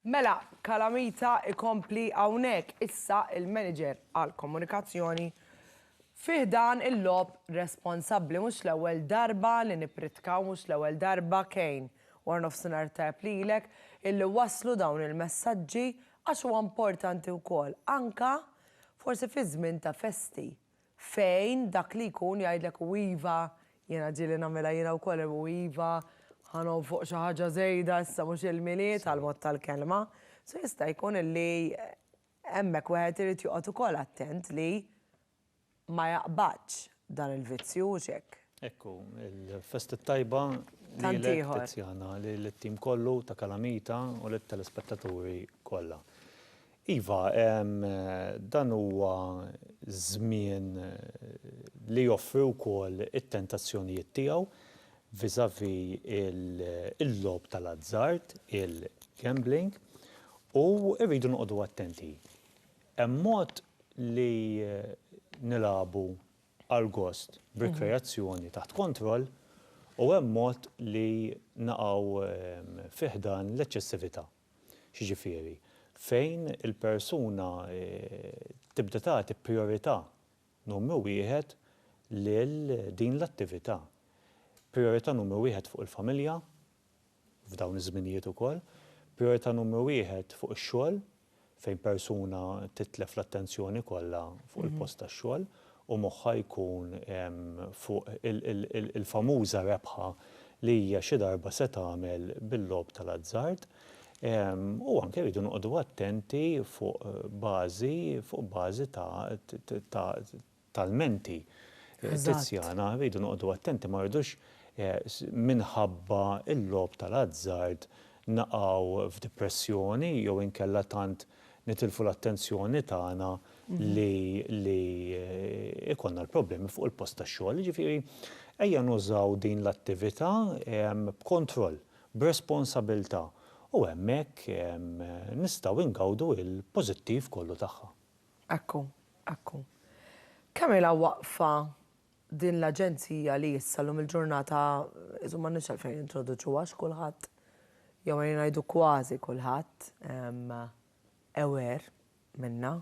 Mela, Calamita ikompli hawnhekk issa il-manager għall-komunikazzjoni fi ħdan il-logħob responsabbli mhux l-ewwel darba li nippritkaw mhux l-ewwel darba Kane waranofsinhar tajjeb lilek illi wasslu dawn il-messaġġi għax huwa importanti wkoll anke forsi fi żmien ta' festi. fejn dak li jkun jgħidlek u iva, jiena ġieli nagħmilha jiena wkoll u iva, ħa nonfoq xi ħaġa żejda issa mhux il-Milied għall-mod tal-kelma. So jista' jkun illi hemmhekk wieħed irid joqgħod ukoll attent li ma jaqbadx dan il-vizzju, hux hekk? Hekk hu. Il-festi t-tajba lilek Tiziana, lil-tim kollu ta' Kalamita u lit-telespettaturi kollha. Iva, dan huwa żmien li joffri wkoll it-tentazzjonijiet tiegħu vis-à-vis il-logħob tal-azzard, il-gambling, u rridu noqogħdu attenti. Hemm mod li nilagħbu għall-gost b'rikreazzjoni taħt kontroll u hemm mod li naqgħu fi ħdan l-eċċessività. X'jiġifieri? Fejn il-persuna tibda tagħti prijorità numru wieħed lil din l-attività. Prijorità numru wieħed fuq il-familja, f'dawn iż-żminijiet ukoll, prijorità numru wieħed fuq ix-xogħol, fejn persuna titlef l-attenzjoni kollha fuq il-post tax-xogħol u moħħha jkun fuq il-famuża rebħa li hija xi darba se tagħmel bil-logħob tal-azzard. U anke rridu noqogħdu attenti fuq bażi fuq bażi ta' tal-menti. Tiziana, irridu noqogħdu attenti ma rridux minħabba l-logħob tal-azzard naqgħu f'dipressjoni jew inkella tant nitilfu l-attenzjoni tagħna li li jkollna l-problemi fuq il-post tax-xogħol. Jiġifieri ejja nużaw din l-attività b'kontroll, b'responsabilità u hemmhekk nistgħu ngawdu l-pożittiv kollu tagħha. Ekku, ekku. Kemm ilha waqfa din l-aġenzija li issa llum il-ġurnata, insomma m'għandniex għalfejn nintroduċuha għax kulħadd, jew ejja ngħidu kważi kulħadd, aware minnha.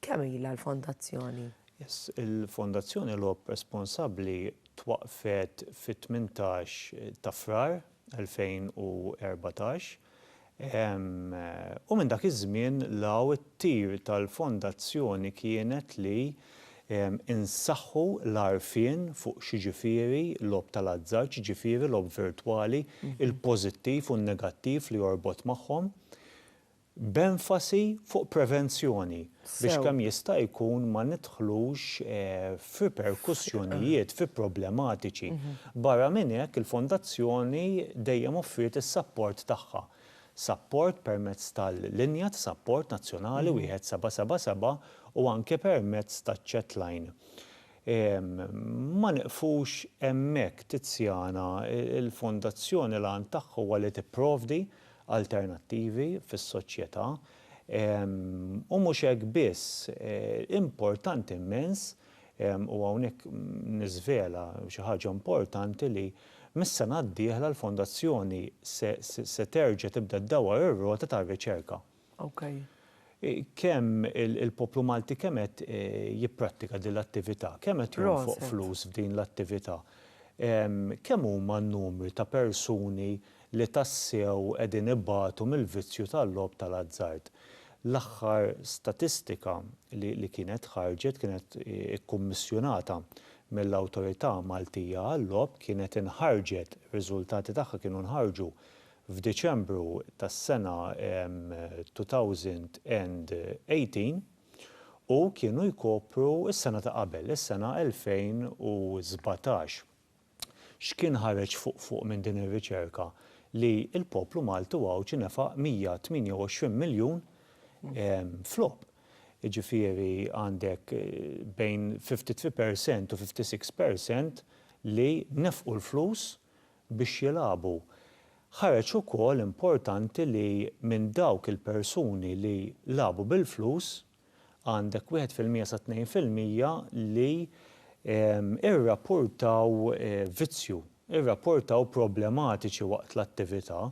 Kemm ilha l-fondazzjoni? Yes, il-Fondazzjoni Logħob Responsabbli twaqqfet fit-tmintax ta' Frar 2014, u minn dak iż-żmien 'l hawn it-tir tal-Fondazzjoni kienet li nsaħħu l-għarfien fuq x'jiġifieri logħob tal-azzard, x'jiġifieri logħob virtwali, il-pożittiv u n-negattiv li jorbot magħhom. b'enfasi fuq prevenzjoni biex kemm jista' jkun ma nidħlux f'riperkussjonijiet, fi problematiċi. Barra minn hekk, il-Fondazzjoni dejjem offriet is-sapport tagħha. Sapport permezz tal-linja ta' sapport nazzjonali 1777 u anke permezz taċ-chat line. Ma nieqfux hemmhekk, Tiziana, il-Fondazzjoni l-għan tagħha huwa li tipprovdi alternattivi fis-soċjetà, u mhux hekk biss, importanti immens, u hawnhekk niżvela xi ħaġa importanti li mis-sena d-dieħla l-Fondazzjoni se terġa' tibda ddawwar ir-rota tar-riċerka. Kemm il-poplu Malti kemm qed jipprattika din l-attività? Kemm qed jonfoq flus f'din l-attività? Kemm huma n-numri ta' persuni li tassew qegħdin ibatu mill-vizzju tal-logħob tal-azzard? L-aħħar statistika li kienet ħarġet kienet ikkummissjunata mill-Awtorità Maltija għal-Logħob, kienet inħarġet, ir-riżultati tagħha kienu nħarġu f'Diċembru tas-sena 2018 u kienu jkopru s-sena ta' qabel, is-sena 2017. X'kien ħareġ fuq fuq minn din ir-riċerka? Li l-poplu Malti u Għawdxi nefaq 128 miljun f'logħob. Jiġifieri għandek bejn 53 percent u 56 percent li nefqu l-flus biex jilagħbu. Ħareġ ukoll importanti li minn dawk il-persuni li lagħbu bil-flus, għandek wieħed fil-mija sa tnejn fil-mija li irrappurtaw vizzju, irrappurtaw problematiċi waqt l-attività,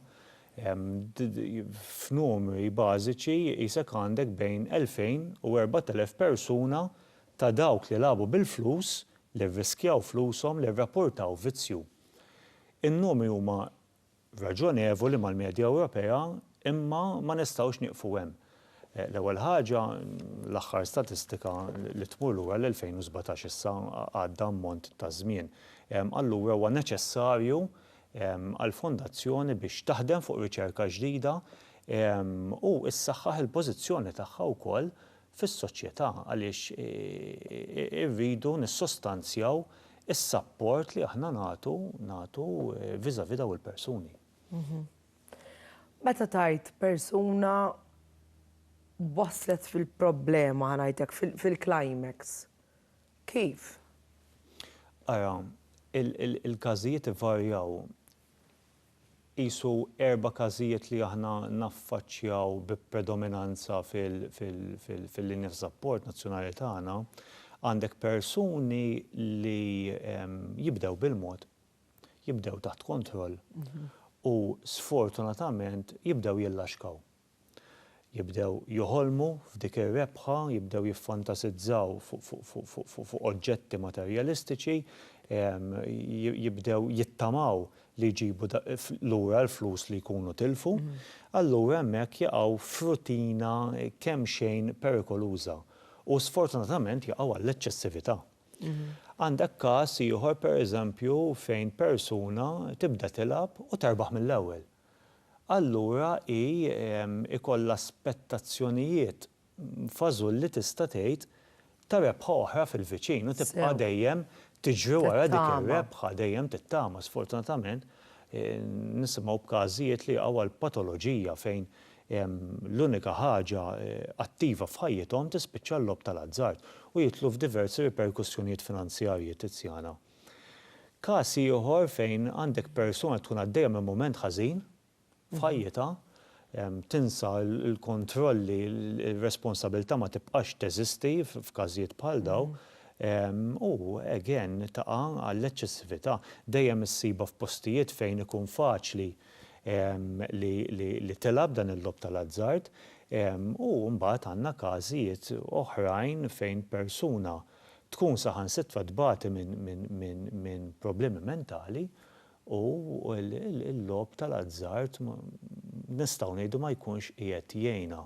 f'numri bażiċi qisek għandek bejn elfejn u erbat elef persuna ta' dawk li lagħbu bil-flus, li rriskjaw flushom, li rrappurtaw vizzju. In-numri huma raġonevoli mal-medja Ewropea imma ma nistgħux nieqfu hemm. L-ewwel ħaġa, l-aħħar statistika li tmur lura għall-2017 issa għadda ammont ta' żmien. Allura huwa neċessarju għall-Fondazzjoni biex taħdem fuq riċerka ġdida u ssaħħaħ il-pożizzjoni tagħha wkoll fis-soċjetà għaliex irridu nissostanzjaw is-sapport li aħna nagħtu nagħtu vis-à-vis dawn il-persuni. Meta tgħid persuna waslet fil-problema ħa ngħid hekk fil-climax kif? Ara, il-każijiet ivarjaw. qisu erba' każijiet li aħna naffaċċjaw bi predominanza fil-linja ta' sapport nazzjonali tagħna, għandek persuni li jibdew bil-mod, jibdew taħt kontroll u sfortunatament jibdew jillaxkaw. Jibdew joħolmu f'dik ir-rebħa, jibdew jiffantasizzaw fuq oġġetti materjalistiċi, jibdew jittamaw li jġibu lura l-flus li jkunu tilfu, allura hemmhekk jaqgħu f'rutina kemxejn perikoluża u sfortunatament jaqgħu għall-eċċessività. Għandek każ ieħor pereżempju fejn persuna tibda tilgħab u terbaħ mill-ewwel. allura hi jkollha spettazzjonijiet fażulli tista' tgħid ta' rebħa oħra fil-viċin u tibqa' dejjem tiġri wara dik ir-rebħa, dejjem tittama. Sfortunatament nisimgħu b'każijiet li jaqgħu għal patoloġija fejn l-unika ħaġa attiva f'ħajjithom tispiċċa l-logħob tal-azzard u jidħlu f'diversi riperkussjonijiet finanzjarji, Tiziana. Każ ieħor fejn għandek persuna li tkun għaddejja minn mument ħażin f'ħajjitha, tinsa l-kontrolli, ir-responsabilità ma tibqax teżisti f'każijiet bħal dawn, u again taqa' għall-eċċessività. Dejjem issibha f'postijiet fejn ikun faċli li tilgħab dan il-logħob tal-azzard, u mbagħad għandna każijiet oħrajn fejn persuna, tkun saħansitra tbati minn problemi mentali u l-logħob tal-azzard nistgħu ngħidu ma jkunx qiegħed jgħinha.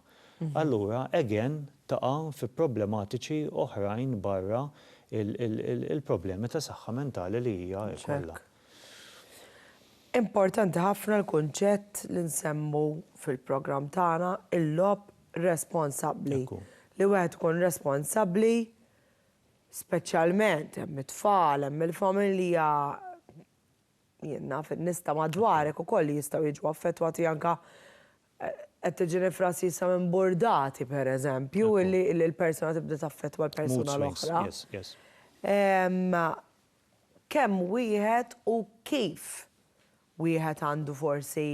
Allura again taqa' fi problematiċi oħrajn barra l-problemi ta' saħħa mentali li hija jkollha. Importanti ħafna l-kunċett li nsemmu fil-programm tagħna, il-logħob responsabbli. Li wieħed ikun responsabbli speċjalment hemm it-tfal, hemm il-familja, jien naf in-nies ta' madwarek ukoll li jistgħu jiġu affettwati anke qed tiġini frażi issa minn burdati pereżempju li l-persuna tibda taffettwa l-persuna l-oħra. Kemm wieħed u kif wieħed għandu forsi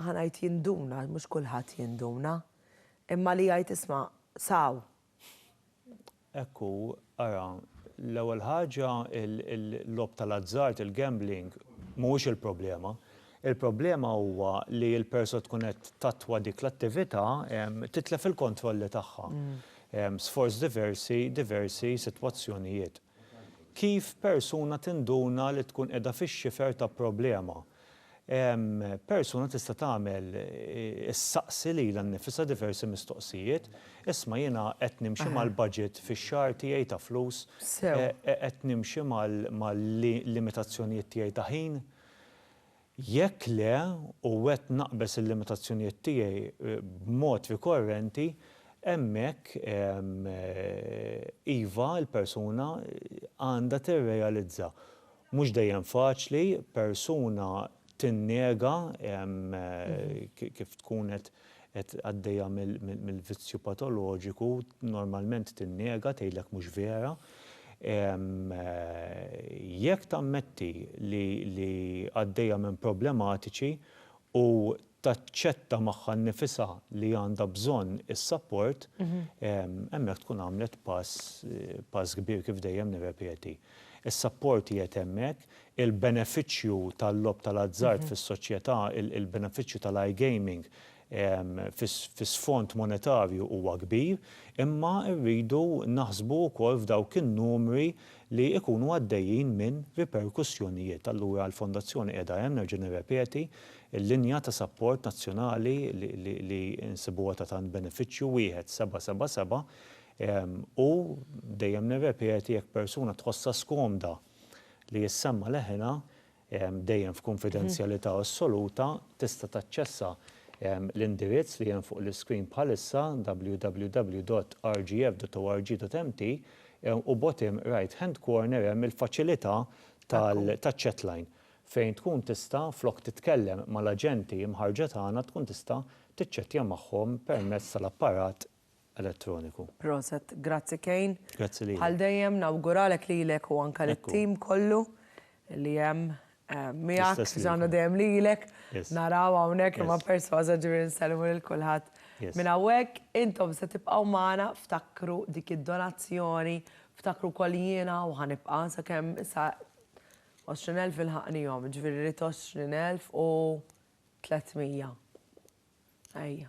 ħa ngħid jinduna għax mhux kulħadd jinduna, imma li jgħid isma' saw! Hekk hu, ara, l-ewwel ħaġa l-logħob tal-azzard, il-gambling, mhuwiex il-problema. Il-problema huwa li l-perso tkun qed tattwa dik l-attività titlef il-kontrolli tagħha. Sforz diversi diversi sitwazzjonijiet. Kif persuna tinduna li tkun qiegħda fix-xifer ta' problema? Persuna tista' tagħmel, issaqsi lilha nnifisha diversi mistoqsijiet, Isma' jiena qed nimxi mal-baġit fix-xahar tiegħi ta' flus? Qed nimxi mal-limitazzjonijiet tiegħi ta' ħin? Jekk le, u qed naqbeż il-limitazzjonijiet tiegħi b'mod rikorrenti, hemmhekk, iva, il-persuna għandha tirrealizza. Mhux dejjem faċli persuna tinnega kif tkun qed qed għaddejja mill-vizzju patoloġiku, normalment tinnega, tgħidlek mhux vera. Jekk tammetti li għaddejja minn problematiċi u taċċetta magħha nnifisha li għandha bżonn is-sapport, hemmhekk tkun għamlet pass kbir kif dejjem nirrepeti. Is-sapport qiegħed hemmhekk, il-benefiċċju tal-logħob tal-azzard fis-soċjetà, il-benefiċċju tal-iGaming fi sfond monetarju huwa kbir, imma rridu naħsbu wkoll f'dawk in-numri li jkunu għaddejjin minn riperkussjonijiet. Allura l-Fondazzjoni qiegħda hemm, nerġa' nirrepeti, il-linja ta' sapport nazzjonali li nsibuha ta' tant benefiċċju, wieħed, seba' seba' seba', u dejjem nirrepeti jekk persuna tħossha skomda, li jissemma' leħinha dejjem f'kunfidenzjalità assoluta, tista' taċċessa l-indirizz li hemm fuq l-iskrin bħalissa, www.rgf.org.mt, u bottom right hand corner hemm il-faċilità taċ-chat line fejn tkun tista' flok titkellem mal-aġenti mħarrġa tagħna tkun tista' tiċċettja magħhom permezz tal-apparat elettroniku. Proset, grazzi Kejn. Grazzi lilek. Bħal dejjem nawguralek lilek u anke lit-tim kollu li hemm miegħek, ġana dejjem lilek, naraw hawnhekk imma persważa ġifieri nsellmu lil kulħadd minn hawnhekk. Intom se tibqgħu magħna, ftakru dik id-donazzjoni, ftakru wkoll jiena u ħa nibqa' sakemm sa 20,000 ilħaqnihom, ġifieri rrid 20,300. Ejja.